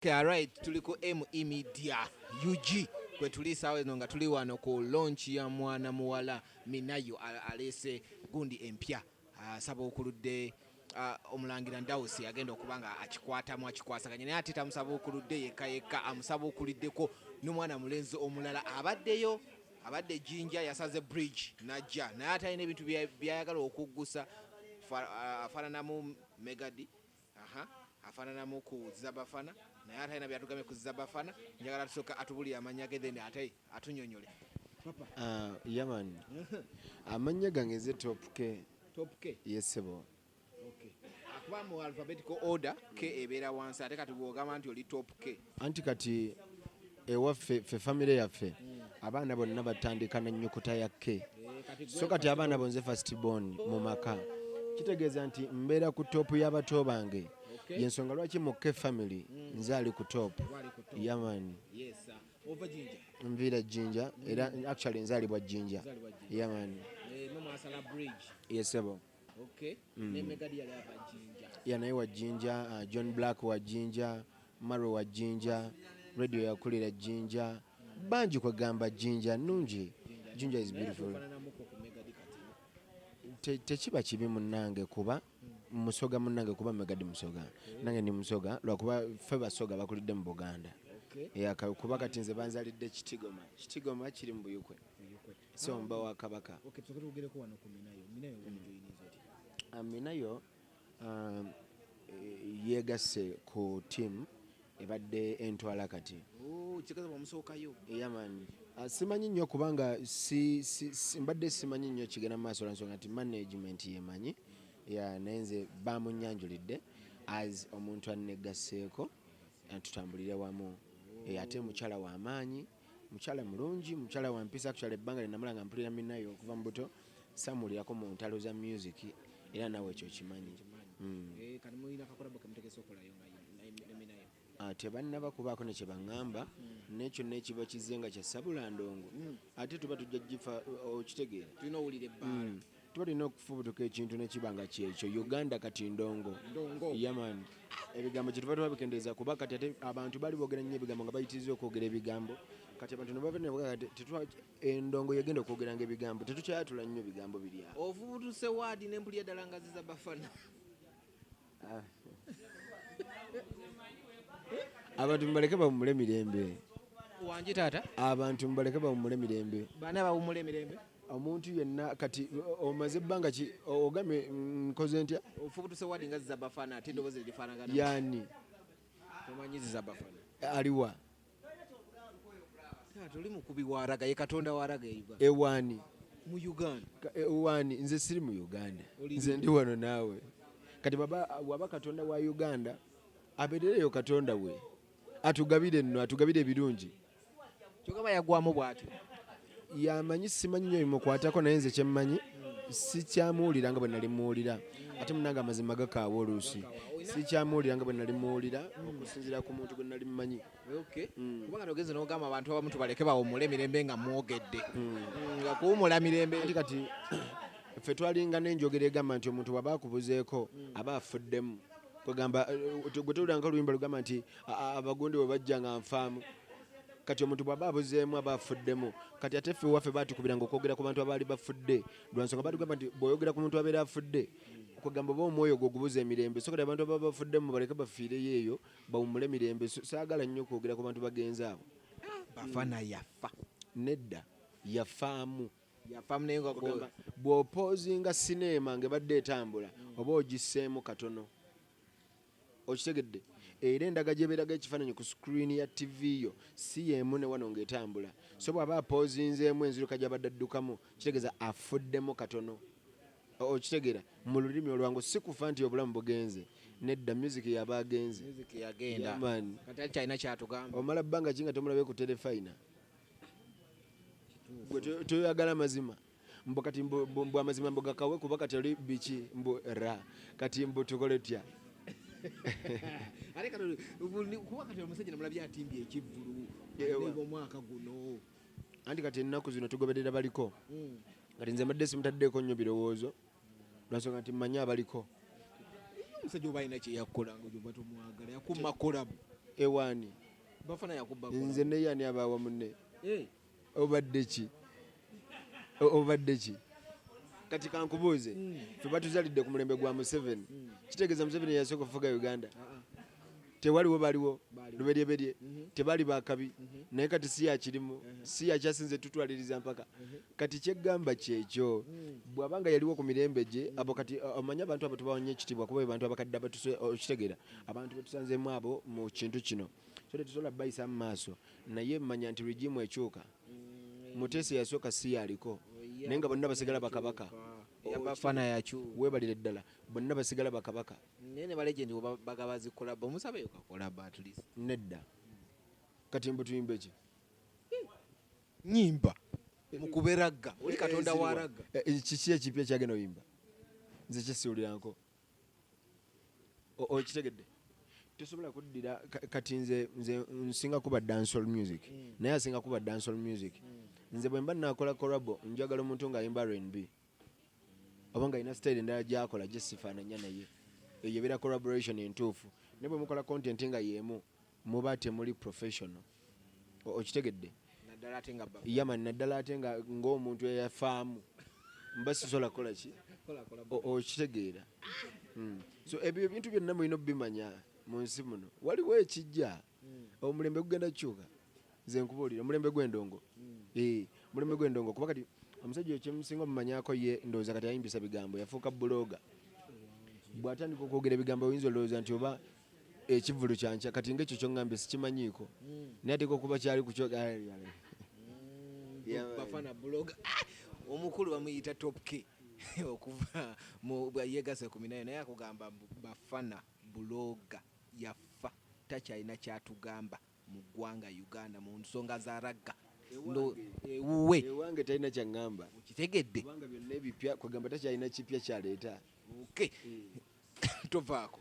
Okay, alright tuli ku ME Media UG kwe tuli saawa eno nga tuli wano ku launch ya mwana muwala Minayo aleese gundi empya asaba okuludde Uh, omulangira ndawusi agenda okuba nga akikwatamu akikwasaganya naye ate tamusabuukuludde yekka yekka amusabuukuliddeko n'omwana mulenzi omulala abaddeyo abadde jinja yasaze bridge najja naye atalina ebintu byayagala okuggusa uh, afaananamu megadi Aha, afananamu ku Zabafana naye ate alina byatugambye ku Zabafana. Njagala tusooka atubulire amannya ge then ate atunyonyole. Papa. Uh, yaman. amannya gange nze Top K. Top K? Yes, sebo. Okay. Akuba mu alphabetical order K ebeera wansi ate kati bw'ogamba nti oli Top K. anti kati ewaffe fe famire yaffe abaana bonna batandika na nyukuta ya k so kati abaana bonze fast bon mu maka kitegeeza nti mbeera ku toopu y'abato bange yensonga lwaki mu k family nze ali ku toopu yamani nviira jjinja era actually nzaalibwa jjinja yamani eh, yesebo okay mm. ne mega dia ya bajinja ya naye wa jinja uh, ah, john black wa jinja maro wa jinja radio ya kulira jinja mm. banji kwa gamba jinja nunji jinja, jinja is beautiful tekiba te kibi munange kuba mm. musoga munange kuba megadi musoga okay. nange ni musoga lwakuba fe basoga bakulidde mu buganda okay. yeah, kuba kati nze banzalidde kitigoma kitigoma kiri mu buyukwe, buyukwe. siomba wa kabaka minayo um, eh, yegasse ku tiamu ebadde entwala kati oh, yaman ah, simanyi nnyo kubanga mbadde simanyi nnyo kigenda mu maaso lwansonga nti management yemanyi ya naye nze bamunyanjulidde as omuntu annegasseeko tutambulire wamu oh. eh, ate mukyala w'amaanyi mukyala mulungi mukyala wampisa kukyala ebbanga lyenamala nga mpulira minaye okuva mu buto samuwulirako mu ntalo za music era nawe ekyo okimanyi hmm. eh, ah, tebannaba kubaako ne kyebaŋŋamba hmm. nekyo nekiba kize nga kya sabula ndongo hmm. ate tuba tujja gifa okitegeera tulina okufubutuka ekintu nekiba nga kyekyo uganda kati ndongo yaman ebigambo kyetuva tubabikendeeza kuba kati ate abantu bali bogera nnyo ebigambo nga bayitiriza okwogera ebigambo kati abantu endongo yegenda okwogeranga ebigambo tetukyayatula nnyo bigambo birya ovubutuse waadi nempulira ddala ngaziza bafana abantu mubaleke bawumule mirembe wangi taata abantu mubaleke bawumule mirembe baana bawumule mirembe omuntu yenna kati omaze ebbanga ki ogambye nkoze ntya ofubutuse wadi nga zizabafana ate edobozi lirifanagana yani tomanyi zizabafana aliwa tuli mukubi waraga ye katonda waraga ewani mu uganda ewani nze siri mu uganda nze ndi wano naawe kati baba waba katonda wa uganda abeerereyo katonda we atugabire nno atugabire ebirungi kyogaba yagwamu bwatyo yamanyi simanyi nyo bimukwatako naye nze kyemmanyi sikyamuwulira nga bwe nali muwulira ate munange amazima gakaawa oluusi sikyamuwulira nga bwe nali muwulira okusinzira ku muntu gwe nali mumanyi hmm. kubanga nogenze nogamba abantu abamu tubaleke bawumule emirembe nga mwogedde hmm. Hmm, nga kuwumula mirembe ati kati ffe twalinga nenjogera egamba nti omuntu waba akubuzeeko aba afuddemu kwegamba eh, gwe towuliranga oluyimba lugamba nti abagundi bwe bajja nga nfaamu kati omuntu bwaba abuzeemu aba afuddemu kati ate ffe waffe batukubiranga okwogera ku bantu abaali bafudde lwansonga batugamba nti bwoyogera ku muntu abeera afudde kwegamba oba omwoyo gwo ogubuza emirembe so kati abantu ababa bafuddemu baleke bafiireyo eyo bawumule mirembe saagala nnyo okwogera ku bantu bagenzi abo ah, bafana yafa nedda yafaamu bw'opoozinga sineema nga ebadde etambula oba ogisseemu katono okitegedde era endaga gyeberaga ekifaananyi ku sikuriini ya ttivi yo si yeemu ne wano ng'etambula so bw'aba apoozinzeemu enziruka gy'abadde addukamu kitegeeza afuddemu katono okitegera mu lulimi olwangu si kufa nti obulamu bugenze nedda music yaba agenze omala bbanga ki nga tomulabe ku terefayina gwe toyagala mazima mbu kati mbu, mbu, mbu amazima mbu gakawe kuba kati oli biki mbu ra kati mbu tukole tya ate kano kuba kati omusajja namulabye atimbye ekivvulu omwaka guno anti kati ennaku zino tugoberera baliko hmm. kati nze mbadde simutaddeeko nnyo birowoozo lwansonga nti mmanyi abaliko omusajja oba alina kyeyakukola nga oba tomwagala yakuma kolabu ewaani bafana yakuba nze neyani abaawa munne eh. obadde ki obadde ki kati kankubuuze hmm. fe batuzalidde ku mulembe gwa museveni hmm. kitegeeza museveni yasooka okufuga uganda ah, ah. tewaliwo baliwo luberyeberye mhm. tebali bakabi mhm. naye kati si yakirimu mhm. si yakyasinze tutwaliriza mpaka kati kyeggamba kyekyo bwaba nga yaliwo ku mirembe gye abo kati omanye abantu abo tubawanya ekitiibwa kuba abantu abakadde abatukitegera abantu betusanzemu abo mu kintu kino so tetusobola bayisa mu maaso naye manya nti regimu ekyuka mm, mutesi yasooka si yaliko oh, naye nga bonna basigala bakabaka yabafana yakyu webalire ddala bonna basigala bakabaka naye ne balegend bagaba zikolabo omusaba eyo kakolabo at least nedda kati mbu tuyimba eki nyimba mukube ragga oli katonda wa ragga eh, eh, kiki ekipya kyagenda oyimba nze kyesiwuliranko okitegedde tosobola kuddira kati nze nze nsinga kuba dancehall music mm. naye asinga kuba dancehall music mm. nze bwemba nakola corabo njagala omuntu nga ayimba rnb oba nga alina style endala gyakola gyesifaananya naye eyo ebeera collaboration entuufu naye bwemukola content nga yeemu muba temuli professional okitegedde yama naddala ate nga ng'omuntu eyafaamu mba sisobola kukola ki okitegeera hmm. so ebyo ebintu byonna mulina okubimanya mu nsi muno waliwo ekijja hmm. omulembe gugenda kukyuka nze nkubuulira omulembe gw'endongo hmm. eh, omulembe gw'endongo kuba kati omusajja ekyemusinga omumanyako ye ndowooza kati ayimbisa bigambo yafuuka buloga bw'atandika okwogera ebigambo oyinza olowooza nti oba ekivulu kyankya kati nga ekyo kyongambye sikimanyiiko hmm. naye ateeka okuba kyali kukyogayale hmm, bafana buloga ah! omukulu bamuyita topke okuva yegasa kumi nayo naye akugamba bafana buloga yafa takyalina kyatugamba mu ggwanga uganda mu nsonga za ragga ewuwe ewange talina kyaŋŋamba okitegedde kubanga byonna ebipya kwegamba takyalina kipya kyaleeta okay eh. tovaako